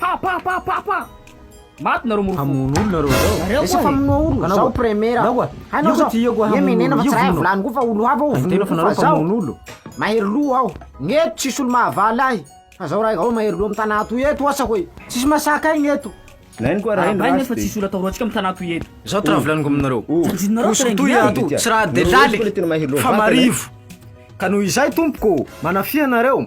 Pa pa pa pa pa Maty nareo morompoko. Hamono olona nareo zao. Nareo koa famonoa olona. Zao premier. Anao koa. Hainao zao. Io koa hamono. Menena fa tsy raha volany koa fa olo hafa o. Tena fa nareo famono olo. Mahery loha aho. Ngeto tsisy olo mahavaly ahy. Fa zao raha ao mahery loha am tanà toy eto asa hoe. Tsisy masaka ahy ngeto. Lainy koa raha iny fa tsisy olo atahoro antsika am tanà toy eto. Zao tra volaniko aminareo. Koso toy ato tsy raha de laliky. Fa marivo. Ka noho izay tompoko manafia anareo.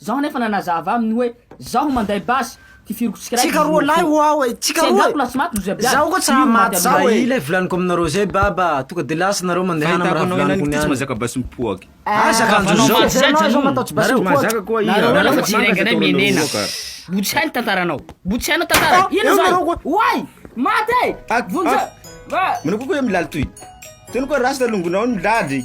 Zaho anefa nanazava aminy hoe zaho manday basy, tifiriko tsikiraiky Tsika roa lahy ho aho e, tsika roa e. Tsy enjako lahy tsy maty ry Zebia. Zaho koa tsy hamaty zaho e. Mba i lay volaniko aminareo zay baba, tonga de lasa nareo mandehana am raha volaniko niany. Fa ahitako anao ihany ity tsy mahazaka basy mipoaka. Ah zaka andro zao. Fa zay zany no manao tsy basy mipoaka. Nareo mahazaka koa iha. Nareo efa tsy hirenganay menena. Mbo tsy hay ny tantaranao. Mbo tsy hainao tantara. Inona zany? Oay! Maty e! Vonjeo! Manao koa koa iha milaly toy. Tony koa rasta longonao ny laly.